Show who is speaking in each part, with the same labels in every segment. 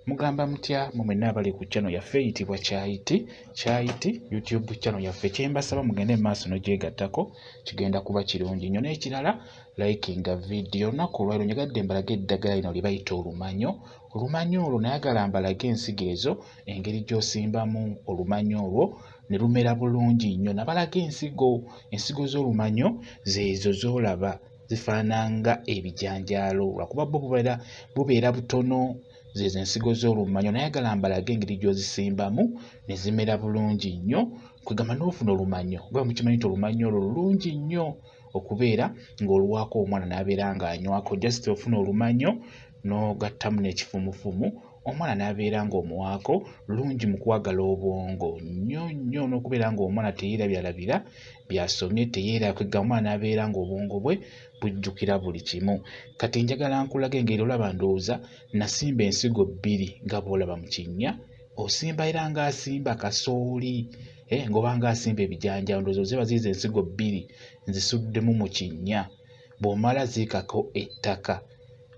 Speaker 1: mugamba mutya mwe mwenna abali ku channel yaffe eyitibwa kyayiti kyayiti youtube channel yaffe kyembasaba mugende mu maaso nogyegattako kigenda kuba kirungi nnyo n'ekirala likinga vidiyo olunaku olwaliro njagadde mbalage eddagala lino lye bayita olumanyo olumanyo olwo nayagala mbalage ensigo ezo engeri gy'osimbamu olumanyo olwo ne lumera bulungi nnyo nabalaga ensigo ensigo z'olumanyo zeezo z'olaba zifaananga ebijanjaalo lwakuba bo bubeera bubeera butono zezo ensigo z'olumanyo nayagala mbalage engeri gy'ozisimbamu ne zimera bulungi nnyo kwegamba n'ofuna olumanyo oba mukimanyi nti olumanyo olwo lulungi nnyo okubeera ng'oluwaako omwana n'abeera ng'anywako just ofuna olumanyo n'ogattamu n'ekifumufumu omwana n'abeera ng'omuwaako lungi mu kwagala obwongo nnyo nnyo n'okubeera ng'omwana teyeerabyalabira by'asomye teyeerakwegga omwana n'abeera ng'obwongo bwe bujjukira buli kimu kati njagala nkulaga engeri olaba ndowooza nasimba ensigo bbiri nga bw'olaba mu kinnya osimba era ng'asimba kasooli eh, ng'oba ng'asimba ebijanjaalo ndowooza oziba ziiza ensigo bbiri nzisuddemu mu kinnya bw'omala ziikako ettaka e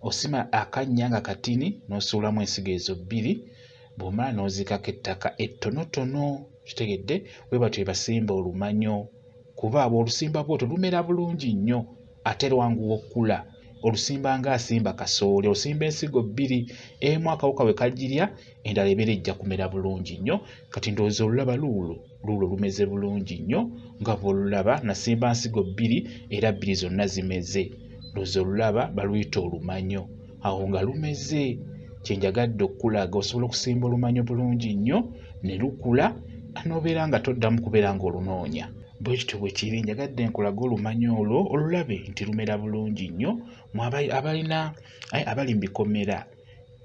Speaker 1: osima akannya nga katini n'osuulamu ensigo ezo bbiri bw'omala n'oziikako ettaka ettonotono kitegedde bwe batyo ebasimba olumanyo kuba abo olusimba bwoto lumera bulungi nnyo ate lwanguwa okukula olusimba ng'asimba kasooli osimba ensigo bbiri emu akawuka we kagirya endala ebeera ejja kumera bulungi nnyo kati ndowooza olulaba luulo luulo lumeze bulungi nnyo nga bw'olulaba nasimba nsigo bbiri era bbiri zonna zimeze luze olulaba baluyita olumanyo awo nga lumeze kye njagadde okukulaga osobola okusimba olumanyo bulungi nnyo ne lukula n'obeera nga toddamu kubeera ng'olunoonya bwe kityo bwe kiri njagadde nkulaga olumanyo olwo olulabe nti lumera bulungi nnyo abalina abali mu bikomera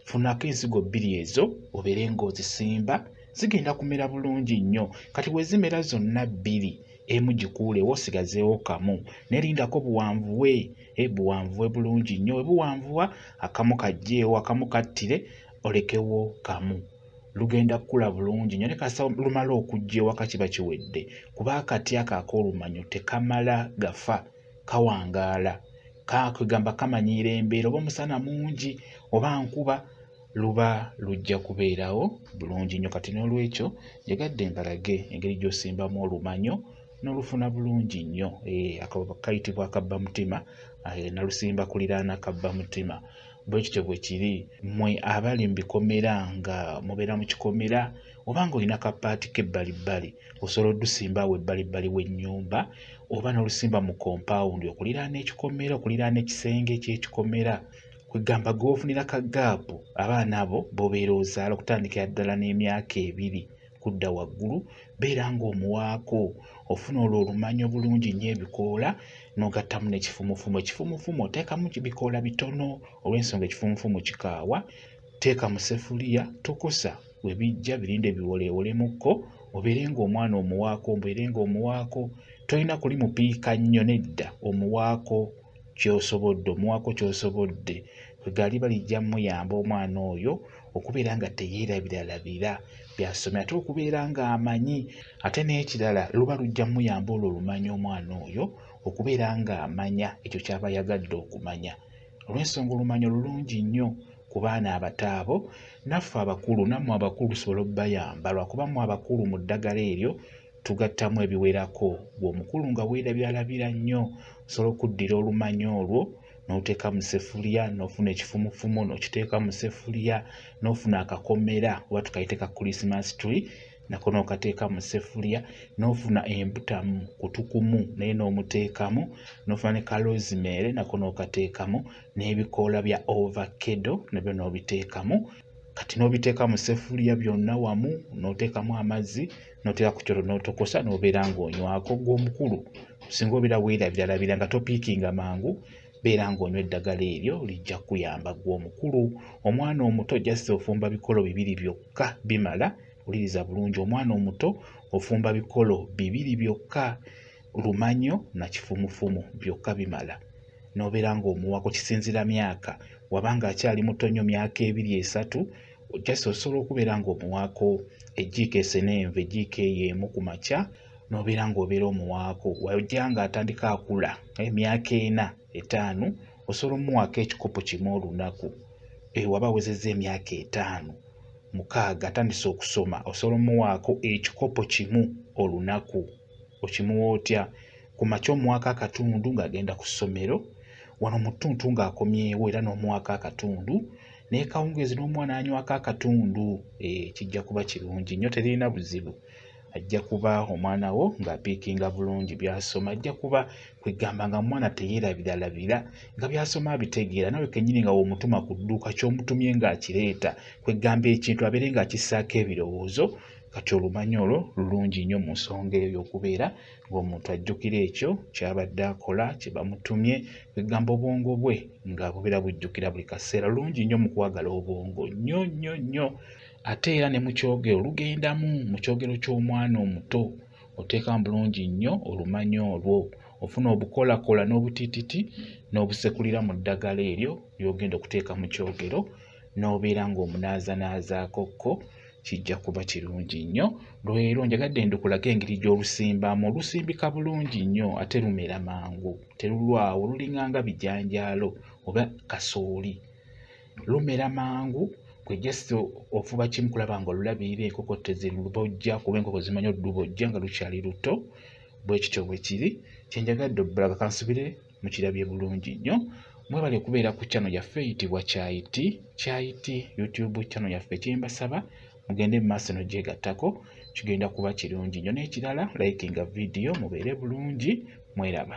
Speaker 1: funako ensigo bbiri ezo obeere ng'ozisimba zigenda kumera bulungi nnyo kati bwe zimera zonna bbiri emu gikuulewo osigazeewo kamu nerindako buwanvuwe eh, buwanvuwe bulungi nnyo webuwanvuwa akamu kajjeewo akamu kattire olekewo kamu lugenda kukula bulungi nyo nekasa lumala okujja ewaka kiba kiwedde kuba akati akaaka olumanyo tekamala gafa kawangaala kakwegamba kamanyiira embeera oba omusana mungi oba nkuba luba lujja kubeerawo bulungi nnyo kati n'olwekyo njagadde mbalage engeri gy'osimbamu olumanyo n'olufuna bulungi nnyo eh, kayitibwa akabba mutima eh, nalusimba kuliraana kabba mutima bwe kityo bwe kiri mmwe abali mu bikomera nga mubeera mu kikomera oba ng'olina kapaati k'ebbalibbali osobola odusimba awo ebbalibbali w'ennyumba oba n'olusimba mu kompawundi okuliraana ekikomera okuliraana ekisenge ekyekikomera kwegamba gweofunira ka gaapu abaana abo bobeera ozaala okutandikira ddala n'emyaka ebiri kudda waggulu beera ng'omuwaako ofuna olwo olumanya obulungi nnyo ebikoola n'ogattamu n'ekifumufumu ekifumufumu oteekamu bikoola bitono olw'ensonga ekifumufumu kikaawa Teeka mu ssefuliya tokosa we bijja birinde biwoleewolemukko obeere ng'omwana omuwaako obeere ng'omuwaako tolina kuli mupiika nnyo nedda omuwaako kyosobodde omuwaako kyosobodde egaali balijja muyamba omwana oyo okubeera nga teyeerabiralabira byasomye ate okubeera ng'amanyi ate n'ekirala luba lujja muyamba olwo olumanya omwana oyo okubeera ng'amanya ekyo kyaba ayagadde okumanya olw'ensonga olumanyi olulungi nnyo ku baana abato abo naffe abakulu nammwe abakulu tusobole okubayamba lwakuba mu abakulu mu ddagala eryo tugattamu ebiwerako ng'omukulu nga weerabyalabira nnyo osobola okuddira olumanyi olwo n'oteeka mu sefuliya n'ofuna ekifumufumu n'okiteeka mu sefuliya n'ofuna akakomera oba tukayite ka christmas tree nako n'okateeka mu ssefuliya n'ofuna embutamu kutukumu naye n'omuteekamu n'ofuna ne kalozimeere nako n'okateekamu n'ebikoola bya overkedo nabyo n'obiteekamu kati n'obiteeka mu ssefuliya byonna wamu n'oteekamu amazzi n'oteeka ku kyoto n'otokosa n'obeera ng'onywako gw'omukulu singa obeera weerabiralabira nga topiikinga mangu beera ng'onywa eddagala eryo lijja kukuyamba gw'omukulu omwana omuto jasi ofumba bikolo bibiri byokka bimala wuliriza bulungi omwana omuto ofumba bikolo bibiri byokka lumanyo na kifumufumu byokka bimala nobeera ng'omuwako kisinzira myaka wabanga akyali muto nnyo myaka ebiri esatu just osobola okubeera ng'omuwaako ejjiiko esenenva ejjiiko eyo emu ku makya nobeera ng'obeera omuwaako wajja nga atandika akula emyaka ena etaano osobola omuwaako ekikopo kimu olunaku ewaba eh, awezezza emyaka etaano mukaaga atandise okusoma osobola omuwaako ekikopo kimu olunaku okimuwa otya ku makya omuwaako akatundu ng'agenda ku ssomero wano mu ttuntu ng'akomyewo era n'omuwaako akatundu naye kawungeezi n'omwana anywako akatundu eh, kijja kuba kirungi nnyo teririna buzibu ajja kuba omwana wo ng'apiikinga bulungi by'asoma ajja kuba kwegamba nga mwana teyeerabiralabira nga by'asoma abitegeera nawe kennyini nga w'omutuma ku dduuka ky'omutumye ng'akireeta kwegamba ekintu abeere ng'akissaako ebirowoozo kati olumanya olwo lulungi nnyo mu nsonga eyo y'okubeera ng'omuntu ajjukira ekyo ky'abadde akola kye bamutumye kwegamba obwongo bwe nga bubeera bujjukira buli kaseera lulungi nnyo mu kwagala obwongo nnyo nnyo nnyo ate era ne mu kyogero lugendamu mu kyogero ky'omwana omuto oteekamu bulungi nnyo olumanya olwo ofuna obukolakola n'obutititi n'obusekulira mu ddagala eryo ly'ogenda okuteeka mu kyogero n'obeera ng'omunaazanaazaako kko kijja kuba kirungi nnyo lwero njagadde ndukulaga engeri gy'olusimbamu olusimbika bulungi nnyo ate lumera mangu terulwawo lulinganga bijanjaalo oba kasooli lumera mangu kwe just ofuba kimu kulaba nga olulabirira enkoko tezilubojja kuba enkoko zimanyi olubojja nga lukyali luto bwekityo bwekiri kyenjagadde obulaga kansubire mukirabye bulungi nnyo mwebale kubeera ku channel yaffe eyitibwa kyayiti kyayiti youtube channel yaffe kyembasaba mugende mu maaso nogyegattako kigenda kuba kirungi nnyo n'ekirala likinga vidiyo mubeere bulungi mweraba